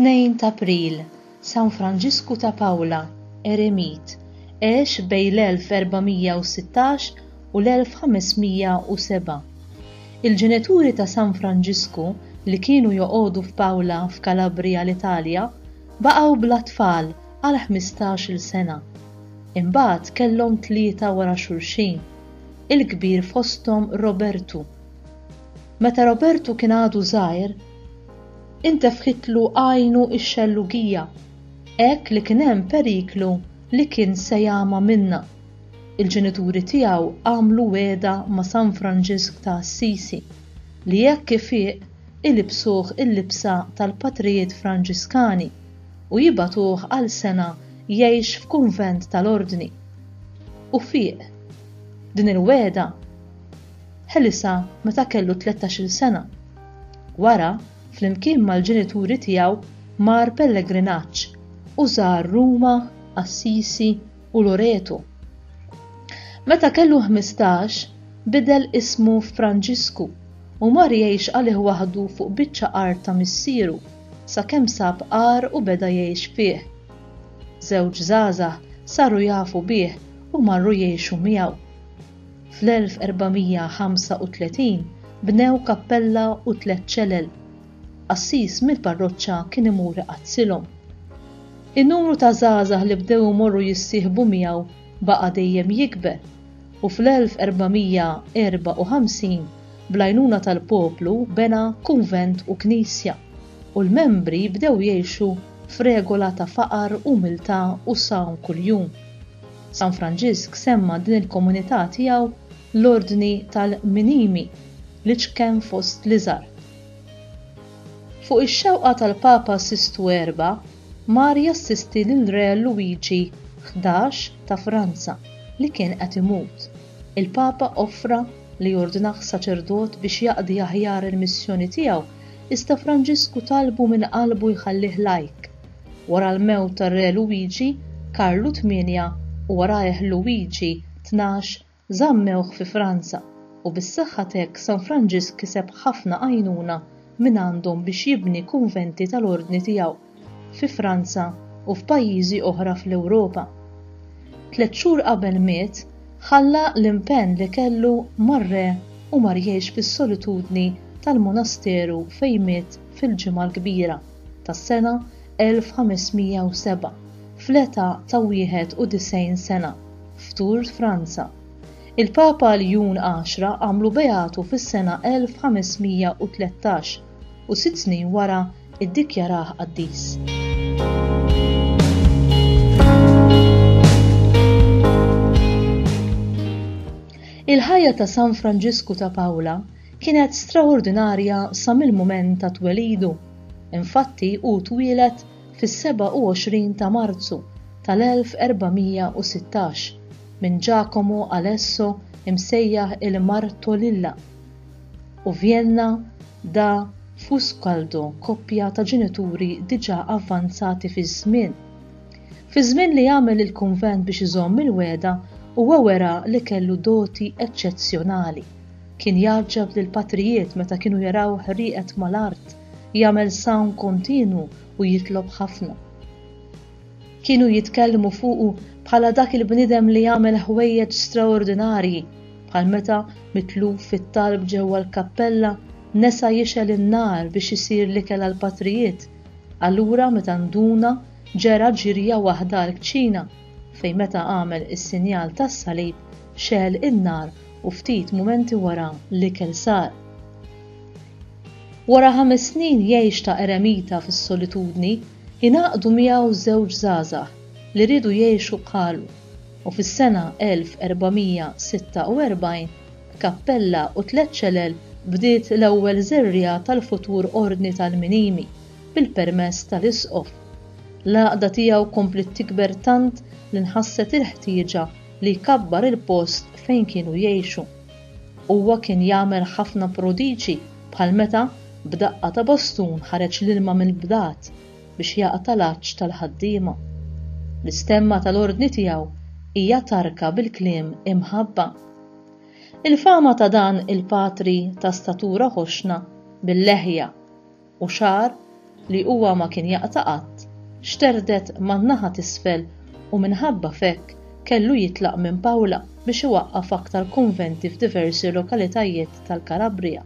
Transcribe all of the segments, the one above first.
Tnejn ta' April, San Franġisku ta' Pawla, eremit, għex bejn l-1416 u l-1507. Il-ġenituri ta' San Franġisku, li kienu joqogħdu f'Pawla f'Kalabrija l-Italja, Baqgħu bla tfal għal ħmistax-il sena. Imbagħad kellhom tlieta wara xulxin, il-kbir fosthom Robertu. Meta Robertu kien għadu żgħir, intefħitlu għajnu x-xellugija, hekk li kien hemm periklu li kien se jagħma minnha. Il-ġenituri tiegħu għamlu wegħda ma' San Franġisk ta' Assisi li jekk ifieq ilibsuh il-libsa tal-patrijiet Franġiskani u jibagħtuh għal sena jgħix f'kunvent tal-Ordni. U fieq. Din il-wegħda ħelisha meta kellu tlettax-il sena. Wara, flimkien mal-ġenituri tiegħu mar pellegrinaġġ u żar Ruma, Assisi, u Loreto. Meta kellu ħmistax, bidel ismu f'Franġisku u mar jgħix għalih waħdu fuq biċċa art ta' missieru sakemm sab għar u beda jgħix fih. Żewġ żgħażagħ saru jafu bih u marru jgħixu miegħu. Fl-1435 bnew kappella u tliet ċelel qassis mill-parroċċa kien imur iqazzilhom. In-numru ta' żgħażagħ li bdew imorru jissieħbu miegħu baqa' dejjem jikber u fl-1454 bl-għajnuna tal-poplu bena kunvent u knisja u l-membri bdew jgħixu f'regola ta' faqar, umiltà u sawm kuljum. San Franġisk semma din il-komunità tiegħu l-Ordni tal-Minimi, l-iċken fost l-iżgħar. Fuq ix-xewqa tal-Papa Sistu Erba', mar jassisti lill-Re Luigi Ħdax ta' Franza li kien qed imut. Il-Papa offra li jordnah saċerdot biex jaqdi aħjar il-missjoni tiegħu iżda Franġisku talbu minn qalbu jħallih lajk. Wara l-mewt tar-Re Luigi, Karlu Tmienja u warajh Luigi Tnax Żammewh fi Franza u bis-saħħa t'hekk San Franġisk kiseb ħafna għajnuna mingħandhom biex jibni kunventi tal-Ordni tiegħu fi Franza u f'pajjiżi oħra fl-Ewropa. Tliet xhur qabel miet, ħalla l-impenn li kellu mar-Re u mar jgħix fis-solitudni tal-monasteru fejn miet fil-Ġimgħa l-Kbira tas-sena 1507 fl-età ta' 91 sena. f'Tours, Franza. Il-Papa Ljun Għaxra għamlu beatu fis-sena 1513 u sitt snin wara ddikjarah qaddis. Il-ħajja ta' San Franġisku ta' Pawla kienet straordinarja sa mill-mument ta' twelidu. Infatti hu twieled fis-27 ta' Marzu tal-1416 minn Giacomo Alesso imsejjaħ il-Martolilla, u Vjenna da Fuskaldo koppja ta' ġenituri diġà avvanzati fiż-żmien. Fiż-żmien li għamel il-kunvent biex iżomm il-wegħda huwa wera li kellu doti eċċezzjonali. Kien jgħaġġab lill-patrijiet meta kienu jaraw ħrieqet mal-art jagħmel sawm kontinwu u jitlob ħafna. Kienu jitkellmu fuqu bħala dak il-bniedem li jagħmel ħwejjeġ straordinarji, bħal meta mitluf fit-talb ġewwa l-kappella nesa jixgħel in-nar biex isir l-ikel għall-patrijiet, allura meta nduna ġera ġirja waħda għall-kċina fejn meta għamel is-sinjal tas-salib xegħel in-nar u ftit mumenti wara l-ikel sar. Wara ħames snin jgħix ta' eremita fis-solitudni, ingħaqdu miegħu żewġ żgħażagħ li riedu jgħixu bħalu, u fis-sena 1446, b'kappella u tliet ċelel bdiet l-ewwel żerriegħa tal-futur Ordni tal-Minimi, bil-permess tal-Isqof. L-għaqda tiegħu kompliet tikber tant li nħasset il-ħtieġa li jkabbar il-post fejn kienu jgħixu. Huwa kien jagħmel ħafna prodiġi bħal meta b'daqqa ta' bastun ħareġ l-ilma mill-bdad biex jaqta' l-għatx tal-ħaddiema. L-istemma tal-ordni tiegħu hija tarka bil-kliem imħabba. Il-fama ta' dan il-patri ta' statura ħoxna bil-leħja u xagħar li huwa ma kien jaqta' qatt, xterdet man-naħa t'isfel u minħabba f'hekk kellu jitlaq minn Pawla biex iwaqqaf aktar kunventi f'diversi lokalitajiet tal-Kalabrija.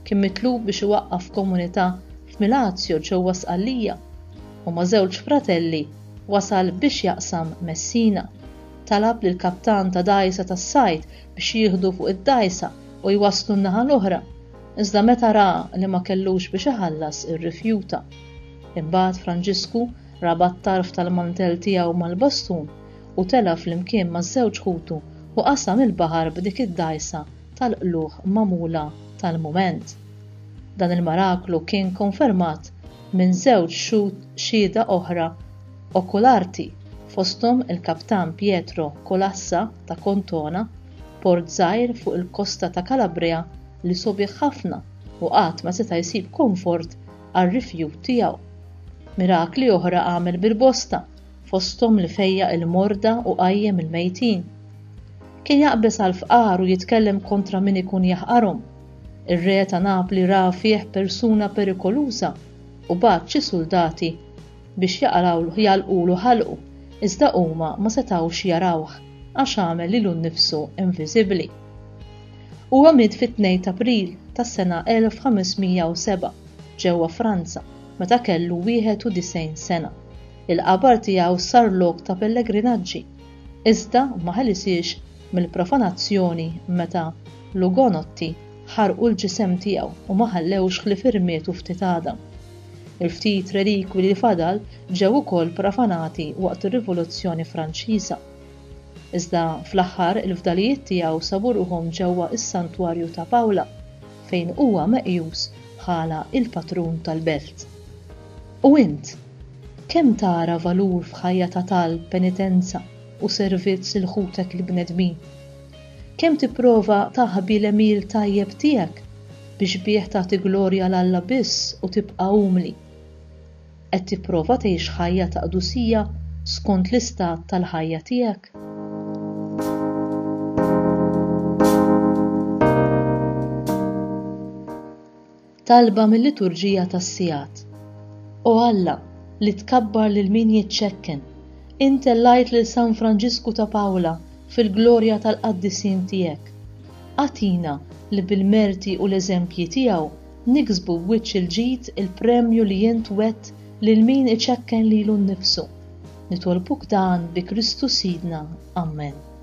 Kien mitlub biex iwaqqaf komunità f'Milazio ġewwa Sqallija u ma' żewġ fratelli wasal biex jaqsam Messina. Talab lill-kaptan ta' dgħajsa tas-sajd biex jieħdu fuq id-dgħajsa u jwasslu n-naħa l-oħra Iżda meta ra li ma kellux biex iħallas irrifjuta. Imbagħad Franġisku rabat tarf tal-mantell tiegħu mal-bastun u tela' flimkien ma' żewġ ħutu u qasam il-baħar b'dik id-dgħajsa tal-qlugħ magħmula tal-mument. Dan il-maraklu kien konfermat minn żewġ xhud xhieda oħra okularti fosthom il-Kaptan Pietro Colassa ta' Contona port żgħir fuq il-kosta ta' Calabria li sobiħ ħafna u qatt ma seta' jsib konfort għar-rifjut tiegħu. Mirakli oħra għamel bil-bosta, fosthom li fejjaq il-morda u qajjem il-mejtin. Kien jaqbeż għall-fqar u jitkellem kontra min ikun jaħqarhom. Ir-re ta' Napli ra fih persuna perikoluża u bagħat xi suldati biex jaqrawlu jagħlqulu ħalqu, iżda huma ma setgħux jarawh għax għamel lilu nnifsu inviżibbli. Huwa miet fit-tnejn t'April tas-sena 1507 ġewwa Franza meta kellu 91 sena. Il-qabar tiegħu sar lok ta' pellegrinaġġi, iżda ma ħelisiex mill-profanazzjoni meta l-Ugonotti ħarqu l-ġisem tiegħu u ma ħallewx ħlief irmietu ftit għadam. Il-ftit relikwi li fadal ġew ukoll profanati waqt ir-Rivoluzzjoni Franċiża. Iżda fl-aħħar il-fdalijiet tiegħu sabu ruħhom ġewwa s-Santwarju ta' Pawla fejn huwa meqjus bħala il-patrun tal-belt. U int? Kemm tara valur f'ħajja ta' talb, penitenza, u servizz lil ħutek il-bnedmin? Kemm tipprova taħbi l-għemil tajjeb tiegħek biex bih tagħti glorja 'l Alla biss u tibqa' umli? Qed tipprova tgħix ħajja ta' qdusija skont l-istat tal-ħajja tiegħek? Talba mil-liturġija tas-sigħat. O Alla, li tkabbar lil min jiċċekken, int tellajt lil San Franġisku ta' Pawla fil-glorja tal-qaddisin tiegħek. Agħtina li bil-merti u l-eżempji tiegħu niksbu b'wiċċ il-ġid il-premju li int wgħedt lil min iċekken lilu nnifsu. Nitolbuk dan bi Kristu Sidna. Amen.